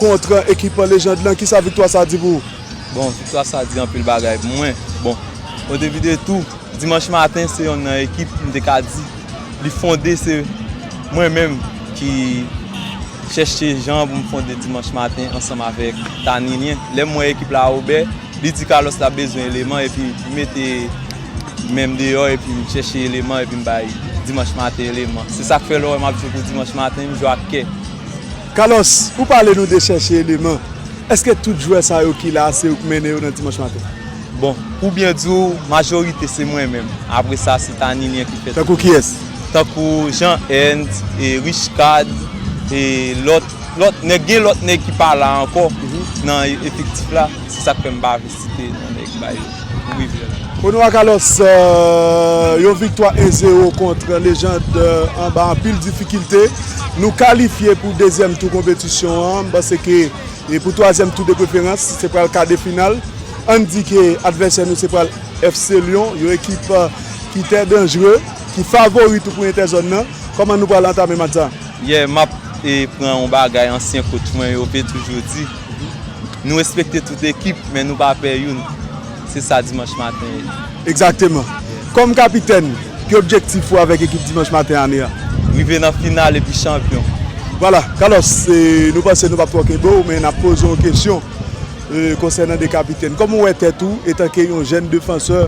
kont ekip Légende lan, kisa viktwa sa di pou ou? Bon, viktwa sa di anpil bagay pou mwen. Bon, odepidetou, Dimanch Maten se yonn nan ekip m te ka di li fonde se mwen menm ki chèche jan pou m fonde Dimanch Maten ansanm avèk Tanilien. Lè m wè ekip la oubè, li di Carlos l ap bezwen eleman epi m mete men m deyò epi m chèche eleman epi m bay Dimanch Maten eleman. Se sa k fè lè w wè m ap jwe pou Dimanch Maten, m jwe ak kè. Carlos, ou pale nou de chèche eleman, eske tout jwè sa yo ki la a se ou k mennen yo nan Dimanch Maten? Bon, pou byen di w, majorite se mwen menm, apre sa se ta Ninian ki fè tout. Tankou kiyès? Tankou Jean Hent, Richecard e lòt, lòt nèg, gen lòt nèg ki pa la ankò nan efektif la, se sa k fè m pa vle. Site yon nèg bay pou rivyè la. Ono ak Alos, yon viktwa 1 zero kont Lejand anba anpil difikilte. Nou kalifye pou dezyèm tou konpetisyon an. M panse ke pou twazyèm tou depreferans, se pral kadefinal. Ann di ke advèsè nou se pral FC Lyon, yon ekip ki tè danjre, ki favori tou pou entèzòn nan. Kòman nou pral antame match sa? Yè, m ap pran yon bagay ansyen kotch mwen yo te toujou di. Nou respekte tout ekip men nou pa pè youn. Se sa Dimanch Maten ye. Egzakteman. Kòm kapitèn, ki objektif ou avèk ekip Dimanch Maten ane a? Rive nan final epi chanpyon. Vwala. Carlos, nou panse nou p ap twò kenbe w, men n ap poze w yon kesyon konsènan de kapitèn. Kòman ou wè tèt ou etanke yon jèn defansè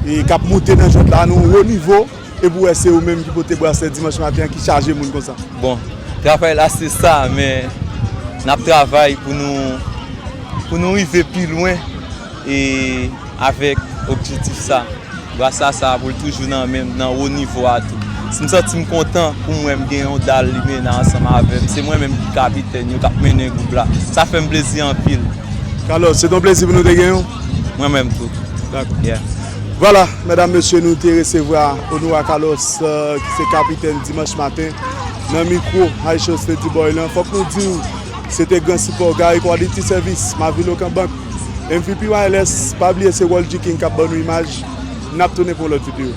k ap moute nan jwèt la nan yon wo nivo? epi ou wè se ou menm ki pote braslè dimanch maten an ki chaje moun konsa. Bon, travay la se sa men nap travay pou nou pou nou rive pi lwen e avèk objetif sa. Brasla sa pou l toujou nan menm nan wo nivo a tou. Si m santi m kontan pou m wè m gen yon dal limena ansanm avè m, se mwen menm ki kapitèn yo kap mennen gwoup la. Sa fè m plezi anpil. Carlos, se t yon plezi pou nou te gen w. Mwen menm tou. Dakò. Yeah. Vwala, medam mesye nou te resevwa Onoua Carlos ki se kapitèn Dimanch maten nan mikwo Haitians Lady Boy lan. Fòk nou di w se te gran sipò Gary Quality Service, Mavil Okanbank, MVP Wireless, pa bliye se Roldy King k ap ban nou imaj. N ap tounen pou yon lòt videyo.